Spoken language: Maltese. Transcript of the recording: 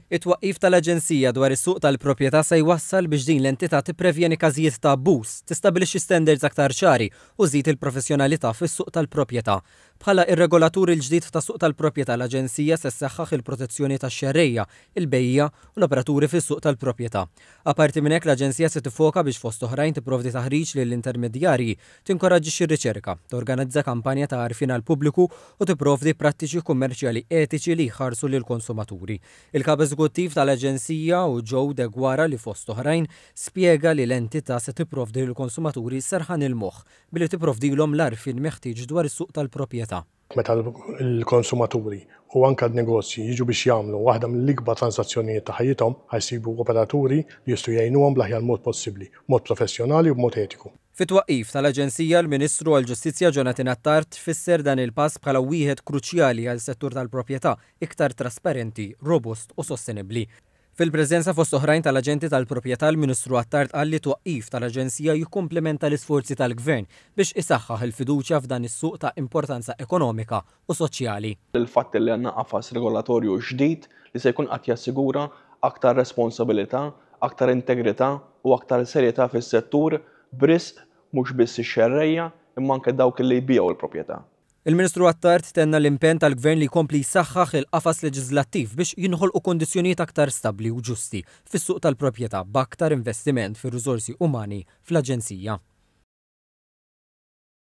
It-twaqqif tal-Aġenzija dwar is-Suq tal-Proprjetà se jwassal biex din l-entità tipprevjeni każijiet ta' abbuż, tistabbilixxi standards aktar ċari u żżid il-professjonalità fis-suq tal-proprjetà. Bħala r-regolatur il-ġdid tas-suq tal-proprjetà l-Aġenzija se ssaħħaħ il-protezzjoni tax-xerrejja, il-bejjiegħa u l-operaturi fis-suq tal-proprjetà. Apparti minn hekk l-Aġenzija se tiffoka biex fost oħrajn tipprovdi taħriġ lill-intermedjarji Tinkoraġġixxi r-riċerka, torganizza kampanja ta' għarfien għall-pubbliku u tipprovdi prattiċi kummerċjali etiċi li jħarsu lill-konsumaturi. Il-Kap Eżekuttiv tal-Aġenzija, Joe Deguara, li fost oħrajn, spjega li l-entità se tipprovdi lill-konsumaturi serħan il-moħħ billi tipprovdilhom l-għarfien meħtieġ dwar is-suq tal-proprjetà. Meta l-konsumaturi u anke n-negozji jiġu biex jagħmlu waħda mill-ikbar transazzjonijiet ta' ħajjithom, ħa jsibu operaturi li jistgħu jgħinuhom bl-aħjar mod possibbli, b'mod professjonali u b'mod etiku. Fit-twaqqif tal-Aġenzija, l-Ministru għall-Ġustizzja Jonathan Attard fisser dan il-pass bħala wieħed kruċjali għal settur tal-proprjetà iktar trasparenti, robust u sostenibbli. Fil-preżenza fost oħrajn tal-aġenti tal-proprjetà l-Ministru Attard qal li t-twaqqif tal-Aġenzija jikkumplimenta l-isforzi tal-Gvern biex isaħħaħ il-fiduċja f'dan is-suq ta' importanza ekonomika u soċjali. l-fatt li għandna qafas regolatorju ġdid li se jkun qed jassigura aktar responsabilità, aktar integrità u aktar serjetà fis-settur b'risq mhux biss ix-xerrejja imma anke dawk li jbigħu l-proprjetà. Il-Ministru Attard tenna l-impenn tal-Gvern li jkompli jsaħħaħ il-qafas leġiżlattiv biex jinħolqu kundizzjonijiet aktar stabbli u ġusti fis-suq tal-proprjetà b'aktar investiment fir-riżorsi umani fl-Aġenzija.